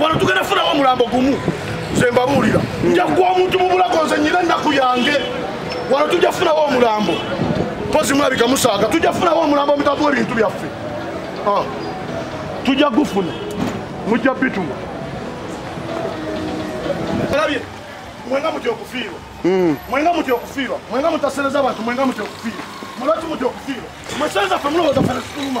wano tugenda funawo omulambo gumu nze mbabuulira nja kuwa omuntu mu bulago nze nyina ennaku yange wano tujja funawo omulambo mpozi mulabika musaaga tujja funawo omulambo omutavu w'ebintu byaffe ah. tujja gufuna mujja bituma olabye mwenga mutya okufiirwa hmm. mwenga mutya okufiirwa mwenga mutasereza abantu mwenga mutya okufiirwa mulwaki mutya okufiirwa mwesenza fe mulowooza fe nesituluma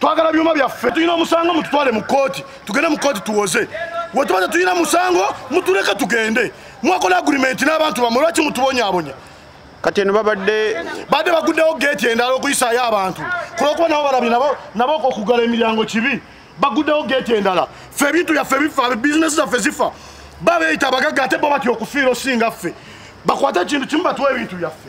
twagala byuma byaffe tulina omusango mututwale mu kooti tugende mu kooti tuwoze wetuba tetulina musango mutuleke tugende mwakola agurimenti n'abantu bamwe lwaki mutubonyabonya kati eno babadde badde baguddewo geeti endala okuyisaayo abantu kulwokuba nabo balabi nabo okugala emiryango kibi baguddewo geeti endala ffe ebintu byaffe bifa bizinesi zaffe zifa babeyita abagagga ate bo batya okufiira osinga ffe bakwate ekintu kimu batuwa ebintu byaffe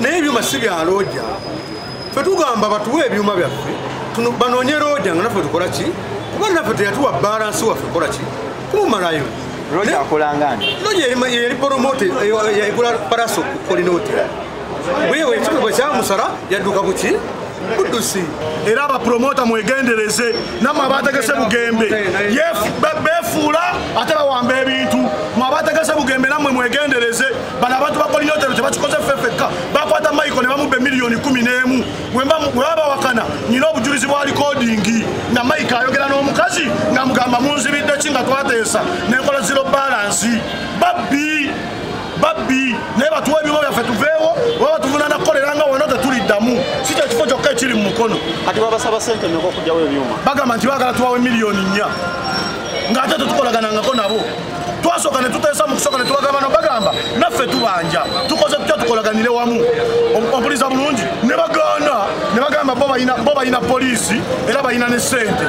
naye ebyuma si bya looja fe tugamba batuwe ebyuma byaffe banoonye looja nga naffe tukola ki kuba naffe teyatuwa balansi waffe kola ki kumumalayo looja akolanga nti looja yali poromote yagula paraso kolinooti wewe ekikwe bwe kyamusala yadduka ku ki buddusi era abapuromota mwegendereze namwe abategese bugembe befuula ate bawamba ebintu mwe abategese bugembe namwe mwegendereze bano abantu bakolina otero tebakikoze ffe fekka bakwata michael ne bamubba emiliyoni kumi n'emu webabawakana nyina obujulizi bwa likodingi nga mike ayogera n'omukazi nga mugamba munzibidde ki nga twateesa nenkola zero balansi babbi babbi naye batuwa ebyuma byaffe tuveewo oba batuvunana kukolera nga wano tetuliddamu si kyo kifo kyokka ekiri mu mukono kati babasaba sente meka okugyawo ebyuma bagamba nti bagala tuwawo emiliyoni nnya ng'ate tetukolaganangako nabo twasooka ne tuteesa mu kusooka ne tubagamba no bagamba naffe tubanja tukoze tutya tukolaganire wamu obuliza bulungi ne bagaana ne bagamba bo balina poliisi era balina ne ssente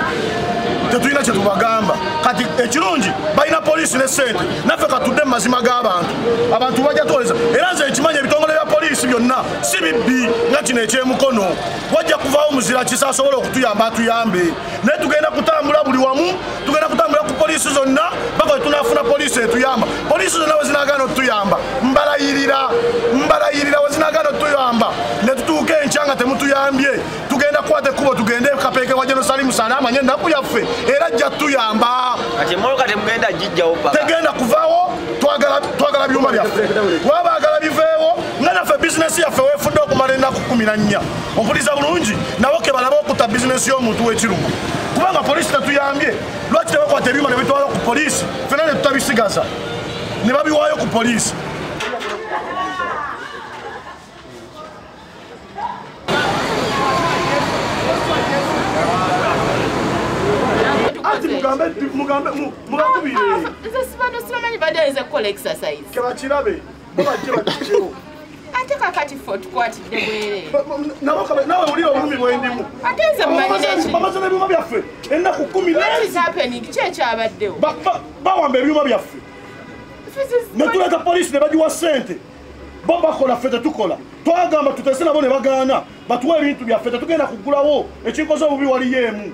tetulina kyetubagamba kati ekirungi balina poliisi ne sente naffe katudde mu mazima g'abantu abantu bajja tuwoleza era nze ekimanya ebitongole bya poliisi byonna si bibbi nga kino ekyemukono wajja kuvaawo muzira kisa asobole okutuyamba atuyambe naye tugenda kutambula buli wamu tugenda kutambula ku poliisi zonna baka wetunafuna poliisi etuyamba poliisi zonna wezinagana otuyamba mbalayirira mbalayirira wezinagana otuyamba netutuuka enkya nga temutuyambye tugenda kukwata ekkubo tugende kapeeke wa jerusalemu sana amanye ennaku yaffe era ajja tuyamba tegenda kuvaawo twagala byuma byaffe wabagala biveewo nga naffe bizinesi yaffe wefudde okumala ennaku kumi na nnya mpuliza bulungi nabo kebalaba okutta bizinesi y'omuntu w'ekirungu kubanga poliisi tetuyambye lwaki tebakwata ebyuma nebitwala ku poliisi fena netutabisigaza ne babiwaayo ku poliisi mugambe mubakubirenze sibantu sibamanyi badeeze kukola exercise kebakirabe ate kakati fe otukwatidde bwerenawe wulira obulumi bwendimu ate nze mmanyinekibabaza nebyuma byaffe ennaku kumi ki ekyabaddewo bawamba ebyuma byaffe netuleta polisi ne bagiwa sente bo bakola ffe tetukola twagamba tutese nabo ne bagaana batuwa ebintu byaffe tetugenda kugulawo ekikoze obubi waliyo emu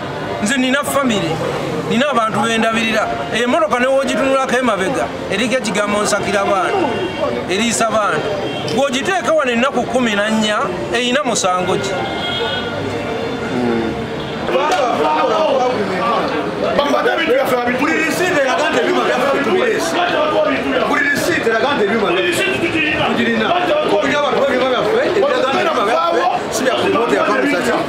nze nina famire nina abantu bendabirira emoroka newogitunulako emabega eriko ekigambo nsakira baana eriisa baana gwogiteeka wano ennaku kumi na nnya erina musango ki Thank you.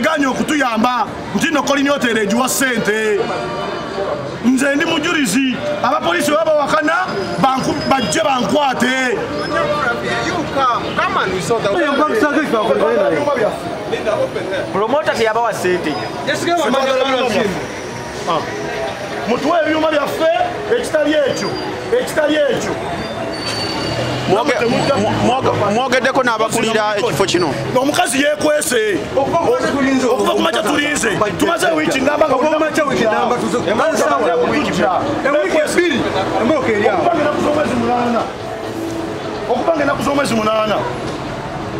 ganye okutuyamba nti no kolina otera egiwa sente nze ndi mujulizi abapolisi baba wakana bajje bankwate promota teyabawa sente ah. mutuwe ebyuma byaffe ekitali ekyo ekitali ekyo mwogeddeko n'abakulira ekifo kino omukazi yekwese okuva kumakya tulinze tumaze wiiki okuva nga enaku z'omwezi munaana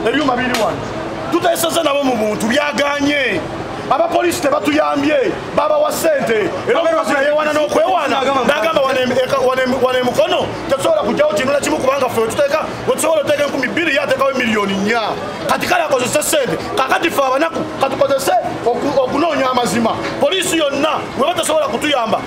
ebyuma biri wano tuteeseza nabo mu buntu byaganye abapoliisi tebatuyambye babawa sente era omukazi nayewana n'okwewana nagamba wana emukono tetusobola kujjawo kintu nakimu kubanga fe tuteeka wetusobola oteeka enkumi bbiri ye ateekawo emiliyoni nnya kati kale akozese sente kakati fe abanaku katukozese okunoonya amazima poliisi yonna weba tesobola kutuyamba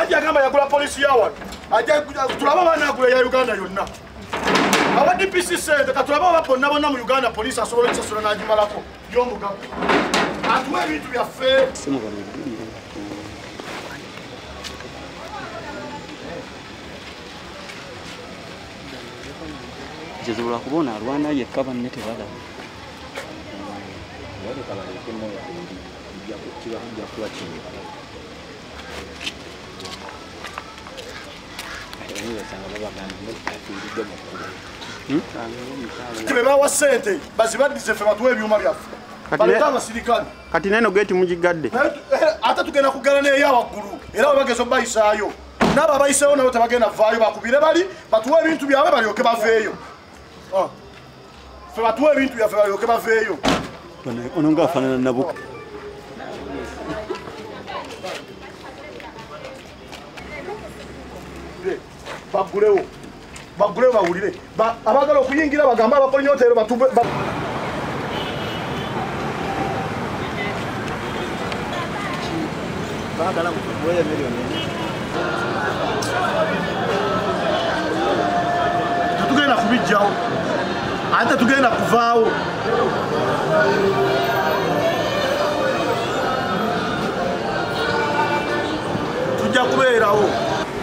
ajja agamba yagula polisi yawano tulaba abaana agula ya uganda yonna aba dpc sente katulaba aba bonna bonna mu uganda polisi asobola okusasula n'agimalako yomugago atuwa ebintu byaffe kizibu lwakuba ono alwana yekka banne tebalaba bebawa sente bazibadize fe batuwa ebyuma byaffe baleta abasirikale kati neno geti mugigadde eh, ate tugenda kugala neya waggulu era webageza obayisaayo naabo abayiseewo nabo tebagenda vaayo bakubire bali batuwa ebintu byabwe balyoke baveeyo ah. ffe batuwa ebintu byaffe balyoke baveeyo ono nga afaanana nabuka bagulewo bagulewo bawulire abagala okuyingira bagambe abakolinyoteero batube Bagala kukuweeyo miliyoni tetugenda kubijjawo ate tetugenda kuvaawo tujja kubeerawo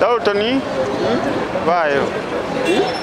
Dalton, vai.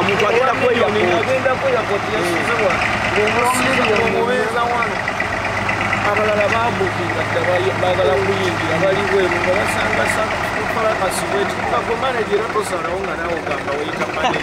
omuntu agenda kweyamubeeza wano abalala babukinga bagala kuyingira bali bweru nga basanga sakufarakasibwekikako manajera tosalawo nga nawe ogamba weyita manee